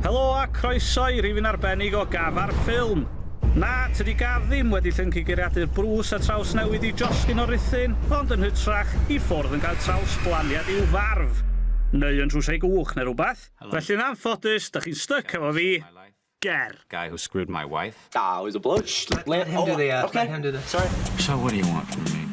Helo a croeso i rifyn arbennig o Gaf ar Ffilm! Na, tydi Gaf ddim wedi llyncu geiriadur brws a trawsnewid i josgyn o ruthun, ond yn hytrach, i ffwrdd yn cael trawsblaniad i'w farf! Neu yn trwsio ei gwch neu rhywbeth. Felly'n anffodus, dych chi'n styc efo fi! Ger. Guy who screwed my wife. That was a bloke. Shh, let, let him oh, do the ad. Uh, okay. Let him do this. Sorry. So what do you want from me?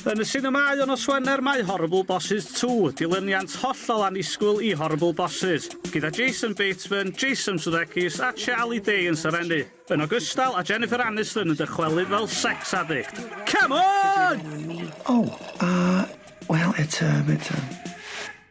Yn y sinemâu o nos Wener mae Horrible Bosses 2, dilyniant hollol annisgwyl i Horrible Bosses, gyda Jason Bateman, Jason Sudeikis a Charlie Day yn serennu, yn ogystal a Jennifer Aniston yn dychwelyd fel sex addict. Come on! Oh, uh, well, it's a, it's a,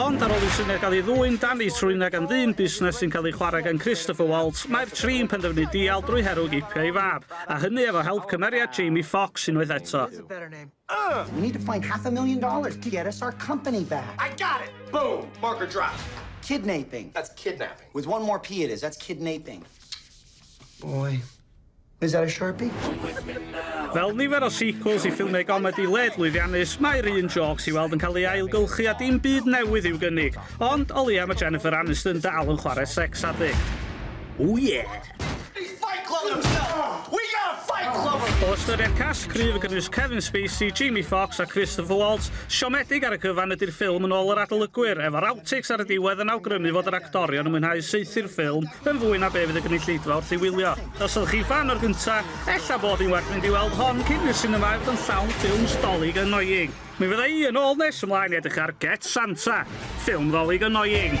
Ond ar ôl i'r syniad gael ei ddwyn dan ei trwyn ag am ddyn busnes sy'n cael ei chwarae gan Christopher Waltz, mae'r tri'n penderfynu dial drwy herwg eipio ei fab, a hynny efo help cymeriad Jamie Foxx unwaith eto. We need to find half a million dollars to get us our company back. I got it! Boom! Marker dropped. Kidnaping. That's kidnapping. With one more P it is. That's kidnaping. Boy. Is that a Sharpie? Fel nifer o sequels i ffilmiau gomedi led lwyddiannus, mae'r un jôcs i weld yn cael ei ailgylchu a dim byd newydd i'w gynnig. Ond o leia mae Jennifer Aniston dy alw'n chwarae sex addict. O ie! O ystyried cast cryf yn gynnwys Kevin Spacey, Jamie Foxx a Christopher Waltz, siomedig ar y cyfan ydy'r ffilm yn ôl yr adolygwyr, efo'r outtakes ar y diwedd yn awgrymu fod yr actorion yn mwynhau saethu'r ffilm Yn fwy na be fydd y gynulleidfa wrth ei wylio. Os ydych chi ffan o'r gynta, ella bod yn werth mynd i weld hon cyn i'r sinema ail fod yn llawn ffilms 'Dolig annoying'. Mi fydda i yn ôl nes ymlaen i edrych ar Get Santa, ffilm 'Ddolig annoying'.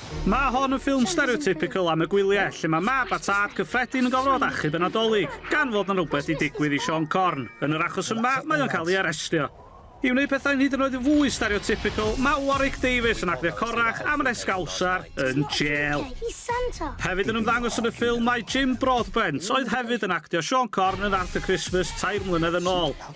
Mae hon yn ffilm stereotypical am y gwyliau, lle mae mab a tad cyffredin yn gorfod achub y Nadolig, gan fod na rhywbeth di digwydd i Siôn Corn. Yn yr achos yma, mae o'n cael ei arestio. I wneud pethau'n hyd yn oed yn fwy stereotypical, mae Warwick Davies yn actio corrach am yr esgawsar yn jêl. Hefyd yn ymddangos yn y ffilm mae Jim Broadbent, oedd hefyd yn actio Siôn Corn yn Arthur Christmas tair mlynedd yn ôl.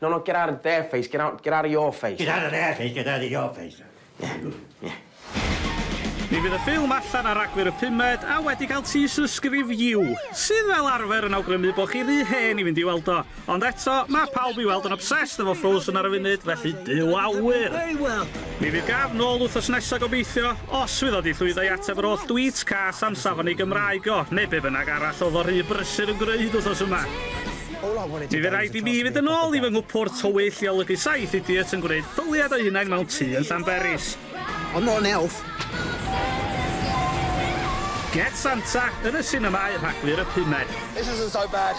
No no get out of there face get out get out of your face. Get out of there face get out of your face. Yeah good yeah. Mi fydd y ffilm allan ar Ragfyr y pumed a wedi cael teaser sgrif You, sydd fel arfer yn awgrymu bod chi rhy hen i fynd i weld o. Ond eto, mae pawb i weld yn obsessed efo Frozen ar y funud, felly byw awyr! Mi fydd gaf nôl wthos nesa gobeithio, os fydd o di llwyddo i ateb yr oll dweets cas am safon ei Gymraeg o, neu be bynnag arall oedd o rhy brysur yn gwneud wthos yma. Mi fydd rhaid i mi fynd yn ôl i fy nghwpwrdd tywyll i olygu saith idiot yn gwneud ffyliad o'u hunain mewn tŷ yn Llanberis. Ond mor neuwf! Get Santa yn y sinemâu Rhagfyr y pumed. This isn't so bad.